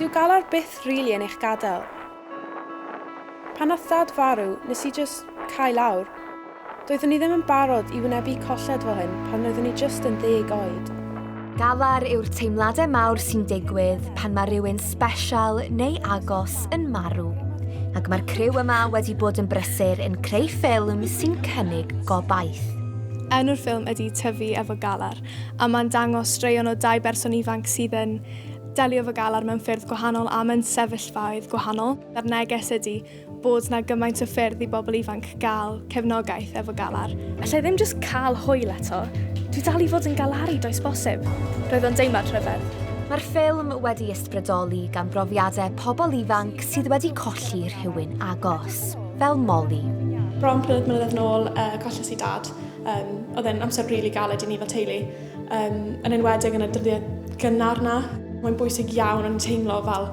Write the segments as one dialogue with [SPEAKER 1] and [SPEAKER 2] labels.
[SPEAKER 1] Dyw galar byth rili yn eich gadael. Pan nath dad farw, nes i jyst cau lawr. Doeddwn i ddim yn barod i wynebu colled fel hyn pan roeddwn i jyst yn ddeg oed. Galar yw'r teimladau mawr sy'n digwydd pan mae rhywun sbesial neu agos yn marw. Ac mae'r criw yma wedi bod yn brysur yn creu ffilm sy'n cynnig gobaith. Enw'r ffilm ydi Tyfu efo Galar. a mae'n dangos straeon o dau berson ifanc sydd yn delio efo galar mewn ffyrdd gwahanol a mewn sefyllfaoedd gwahanol. A'r neges ydy bod 'na gymaint o ffyrdd i bobl ifanc gael cefnogaeth efo galar. Alla i ddim jyst cael hwyl eto. Dwi dal i fod yn galaru does bosib. Roedd o'n deimlad rhyfedd. Mae'r ffilm wedi ysbrydoli gan brofiadau pobl ifanc sydd wedi colli rhywun agos, fel Molly. Bron pum mlynedd nôl, yy, colles i dad. Um, oedd e'n amser rili really galed i ni fel teulu, um, yn enwedig yn y dyddiau gynnar na. Mae'n bwysig iawn yn teimlo fel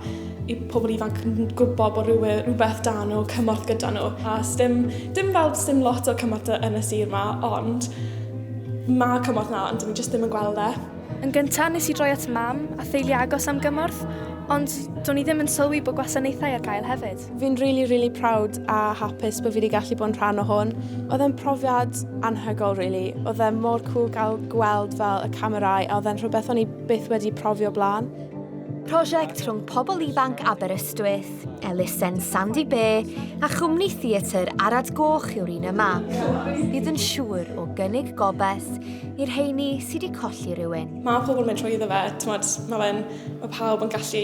[SPEAKER 1] i pobl ifanc yn gwybod bod rhywbeth, rhywbeth da nhw, cymorth gyda nhw. A dim, dim fel dim lot o cymorth yn y sir yma, ond mae cymorth na, ond dyn ni jyst ddim yn gweld e. Yn gyntaf, nes i droi at mam a theulu agos am gymorth, ond do'n i ddim yn sylwi bod gwasanaethau ar gael hefyd. Fi'n rili rili proud a hapus bod fi wedi gallu bod yn rhan o hwn. Oedd e'n profiad anhygoel rili. Oedd e mor cŵl gael gweld fel y camerâu a oedd e'n rhywbeth o'n i byth wedi profi o blaen. Prosiect rhwng pobl ifanc Aberystwyth, elusen Sandy Bay a chwmni theatr Arad Goch yw'r un yma. Bydd yn siŵr o gynnig gobeth i'r heini sydd wedi colli rhywun. Mae pobl yn mynd trwy iddo fe, mae fe'n, mae pawb yn gallu